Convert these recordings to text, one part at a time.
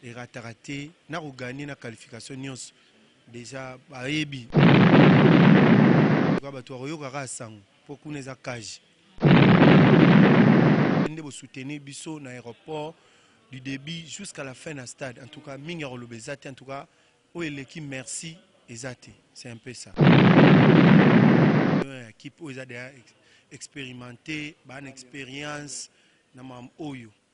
Erataka te nako gagne na qualification nionso dejà bayebi batu bakoyoka kaka sango po kuna eza cage nde bo soutenir biso na aeroport du debut jusqu'à la fin na stade en tout cas mingi ya koloba eza te en tout cas oyo eleki merci eza te c'est un peu ça équipe oyo eza deja expérimenté bana expérience na mam oyo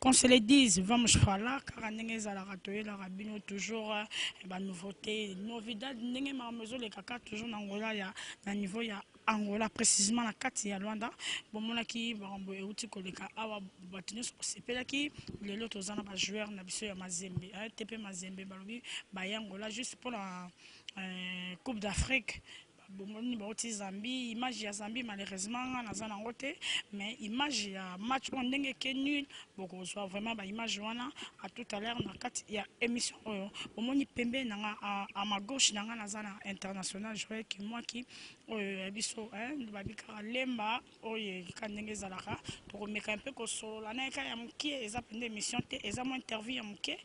Qu'on se le dise, vamos falar kaka ndenge ezalaka toyelaka bino toujours eh, ba nouveautés, novidad ndenge makambo ezoleka kaka toujours na Angola ya na niveau ya Angola précisément na kati ya Luanda bomonaki makambo euti koleka awa bato nyonso basepelaki lelo toza na ba joueur na biso ya Mazembe eh, TP Mazembe balobi baye Angola juste mpo na eh, Coupe d'Afrique Bongo nini bawuti Zambie image ya Zambie malheureusement nga naza nango te mais image ya match oyo ndenge eke nul bokozua vraiment ba image wana a tout à l'heure na kati ya emission oyo bomoni pembeni na nga a ma gauche na nga naza na international Joel Kimwaki oyo ya biso hein babikaka Lemba Oyo ye ka ndenge ezalaka toko meka un peu ko solola naye ka ya mukie eza penza emission te eza mua interview ya mukie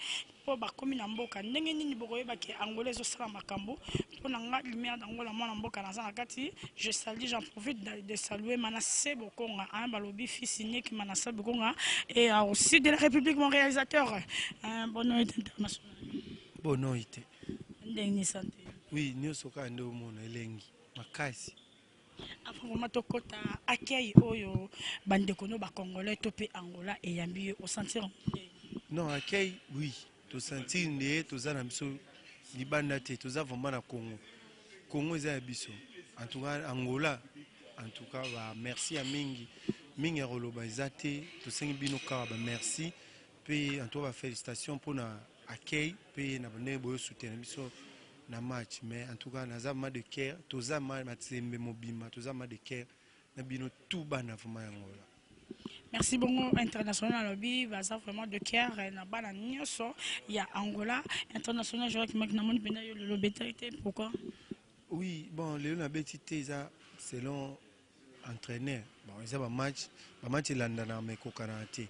po ba komi na mboka ndenge nini boko yeba ke Angola ezo sala makambu po na nga Lumière d'Angola muana mboka naza na kati je salue j'en profite de saluer Manasse Bokonga hein ba lobi fils unique Manasse Bokonga et au sud de la Republique mon realisateur hein bonne nuit internationale bonne nuit ndenge ni santé oui nioso ka nde omona elengi makasi Avant vraiment tokota accueil oyo bandeko no ba congolais to pe Angola eyambi yo osentir yango ndenge nini? Non accueil oui tosentir nde toza na biso libanda te toza vraiment na Congo Congo eza ya biso en tout cas Angola en tout cas ba merci ya mingi mingi ya koloba eza te tosengi bino kaka ba merci Pe en tout cas ba felicitations pona accueil pe na ndenge boyo soutenir biso na match mais en tout cas naza vraiment de cœur toza vraiment matsembe mobimba toza vraiment de cœur na bino tout bana vraiment ya Angola. Merci bongo international alobi baza vraiment de cœur na bana nioso ya Angola international je vois que maki na moni penda yo lelo beta te pourquoi? Oui bon lelo na beti te eza selon entraîneur bon eza ba match ba match elandana mais kokana te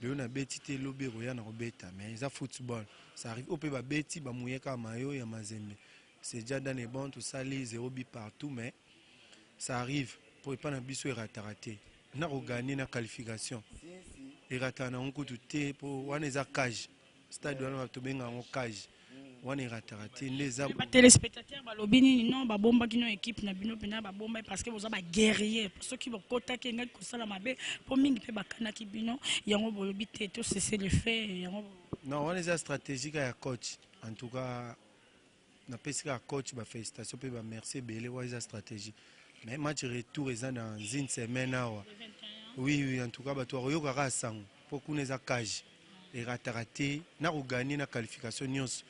Lelo na beti te lobi ekoya na kobeta mais eza football ça arrive oyo pe ba beti ba mouiller kaka maillot ya mazembe c'est dja dans les bons tosali zero but partout mais ça arrive po epa na biso erataka te nako gagner na qualification erataka nango kutu te po wana eza cage stade wana tobenga yango cage wana erataka te nde eza batelespectateur balobi nini non babombaki no ekipe na bino mpena babombai parce que boza baguerrier soki bokotaki engaki kosala mabe mpo mingi mpe bakanaki bino yango bolobi te tosese lefe yango non wana eza stratégique ya coach en tout cas Na pesi kaka coach ba felicitations pe ba merci ebele wa eza strategie. Mais match retour eza na zin semaine awa. Oui oui en tout cas batu bako yoka kaka sango po kuna eza cage. Erataka te na ko gagner na qualification nionso.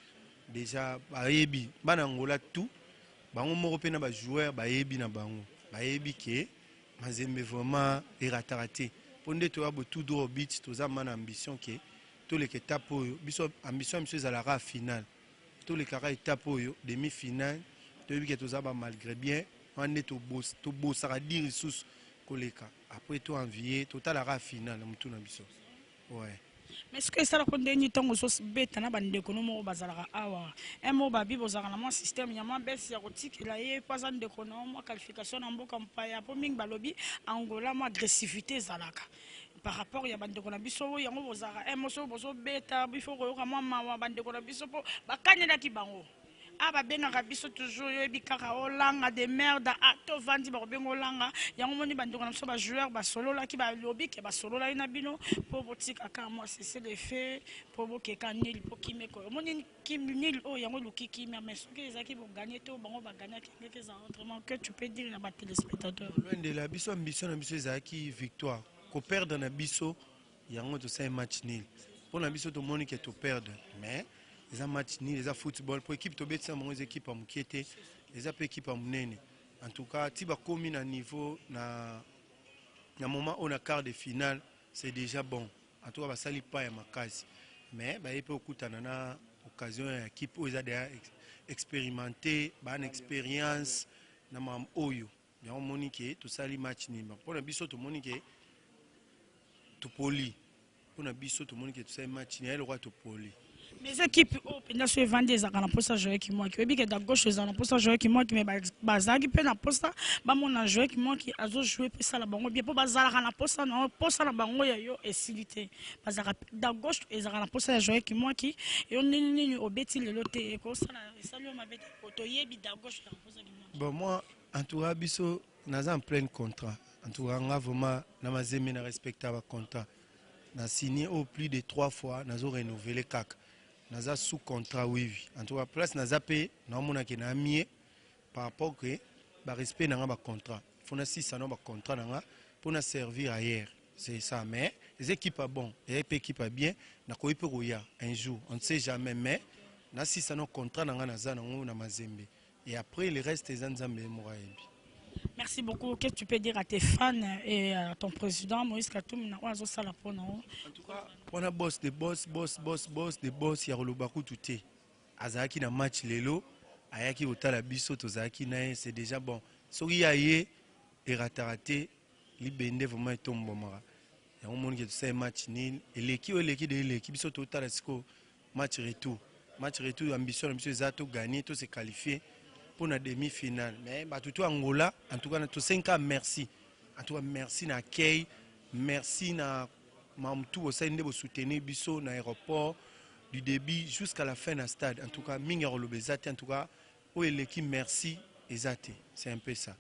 Dejà bayebi bana Angola tout bango moko pe na ba joueurs bayebi na bango. Bayebi ke Mazembe vraiment erataka te. Po nde toya bo tout droit au but toza mana ambition ke toleka etape oyo biso ambition ya biso ezalaka kaka finale. tolekaka etape oyo demi final toyebi ke toza ba malgre bien wana nde tobosaka dire lisusu koleka après to envie totalaka final na mutu na biso ouais mais soki esalaka ndenge ntango ozobeta na bandeko no moko bazalaka awa mo babi bozalaka na mwa système ya mwa bese ya kotikela ye mpo aza ndeko na mwa qualification na mboka mpaya mpo mingi balobi angola mwa agressivité ezalaka par rapport ya bandeko na biso oyo yango bozalaka eh, moso bozobeta bifo koyoka mwa mawa bandeko na biso mpo bakanelaki bango a ah, babengaka biso toujours yoyebi kaka olanga de merde a ah, tovandi bakobenga olanga yango moni bandeko na biso bajoueur basololaki balobi ke basololaki na bino mpo botikaka mwa sese de fe mpo bokeka nili mpo kimeko omoni Kim nul oyo yango eluki kimia mais soki ezalaki bo gagne to bango ba gagnaki ndenge eza honte mon que tu peux dire na ba telespectateurs. Loin de là biso ambition na biso ezalaki victoire ko perdre na biso yango tosali match nul mpo na biso tomoni ke to perdre mais eza match nul eza football mpo ekipe tobetisa bango eza ekipe ya moke te eza mpe ekipe ya monene en tout cas ti bakomi na niveau na na moment oyo na quart de finale C'est dejà bon en tout cas basali pas ya makasi mais baye pe okutana na occasion ya équipe oyo eza deja experimente ba na experience na mam oyo yango omoni ke tosali match nini bango mpona biso tomoni ke topoli mpona biso tomoni ke tosali match nini ya lokola topoli mais ekipe oyo mpenza so evandi ezalaka na mposa joye kimwaki oyebi ke da gauche ezala na mposa joye kimwaki mais bazalaki mpe na mposa bamona joye kimwaki azojoue mpe esala bango bien mpo bazalaka na mposa na mposa na bango ya yo esili te bazalaka da gauche ezalaka na mposa ya joye kimwaki yo nini nini obeti lelo te ekosala esali yo mabe te po toyebi da gauche ezala mposa kimwaki bon moi en tout cas biso naza en pleine contrat en tout cas nga vraiment na mazembe na respecta ba contrat na signe oyo plus de 3 fois nazo renouveler kaka naza sous contrat wiwi en tout cas place naza mpe naomona ke naa mie par rapport ke barespect na nga bacontrat fo nasisa na bacontrat na nga mpo na servir ailleurs c'est ça mais eza ekipe ya bon eza mpe ekipe ya bien nakoki mpe koya un jour on ne sait jamais mais nasisa na contrat na nga naza nango na mazembe Et après le reste eza Nzambe ye moko ayebi. Merci beaucoup. Qu'est-ce que tu peux dire à tes fans et à ton président Moïse Katumbi na ozo sala po na o? En tout cas, on a boss de boss, boss, boss, boss de boss ya koloba kutu te. Azalaki na match lelo, ayaki kotala biso tozalaki na ye, c'est déjà bon. Soki ya ye erataka te, libende vraiment etombomaka. Yango moni ke tosali match nil, eleki oyo eleki de eleki biso totala sikoyo Match retour, match retour ambition na biso eza to gagner, to se qualifier pour na demi finale. Mais batu to Angola, en tout cas to sengi ka merci. En tout cas merci na accueil, merci na mamtu bosali nde bo soutenir biso na aéroport du début jusqu'à la fin na stade. En tout cas mingi ya koloba eza te. En tout cas oyo eleki merci eza te. C'est un peu ça.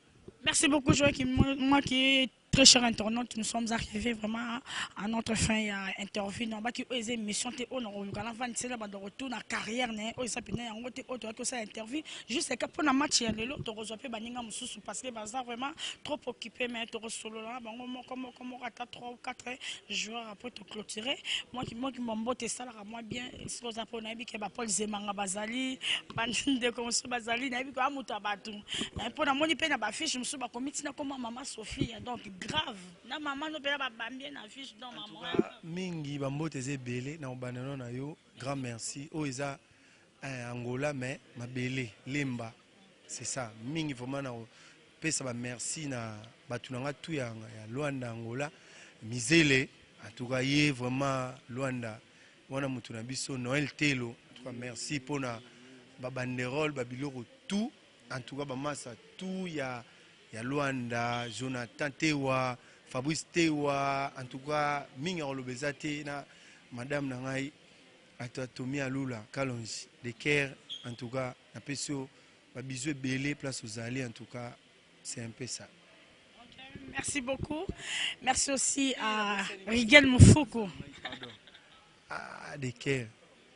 Merci beaucoup Joachim Mwaki. Très cher internaute, nous sommes arrivés vraiment à notre fin ya interview na baki oyo eza émission te oyo nakoluka na vandi sela bando retour na carrière na ye oyo eza mpenza yango te oyo toyaki kosala interview juste ka mpo na match ya lelo tokozwa mpe baninga mosusu parce que baza vraiment trop occupé mais tokosolola na bango moko moko moko ata 3 ou 4 joueurs après toclôturer mwa kimbote esalaka Moi bien soki oza mpo nayebi ke bapole zemanga bazali bandeko mosusu bazali nayebi koya moto ya bato mpo namoni mpe na bafiche mosusu bakomi ntina koma mama sophia donc grave na mama no mpena babambi ye na fiche donc mama mingi bambote eza ebele na kobanda no na yo grand merci oyo eza Eh Angola mais mabele lemba c'est ça mingi vraiment na pesa ba merci na batu na nga tout ya, ya Luanda Angola mizele en tout cas ye vraiment Luanda wana mutu na biso Noël Telo en tout cas merci pona ba banderole ba biloko tout en tout cas ba masa tout ya ya Luanda Jonathan Tewa Fabrice Tewa en tout cas mingi akoloba eza te na madame na ngai Bato ya Tommy Alula Kalonji de Ker en tout cas na pesi yo ba bisous ebele place ozali en tout cas c'est un peu ça. Merci beaucoup. Merci aussi à Rigel Moufoukou. Ah, de Ker.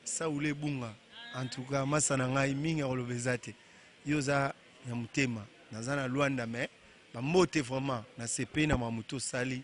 Saoule Bunga. En tout cas, masa na ngai mingi akoloba eza te. Yo oza na motema. Naza na Luanda mais bambote vraiment na sepe na mamuto sali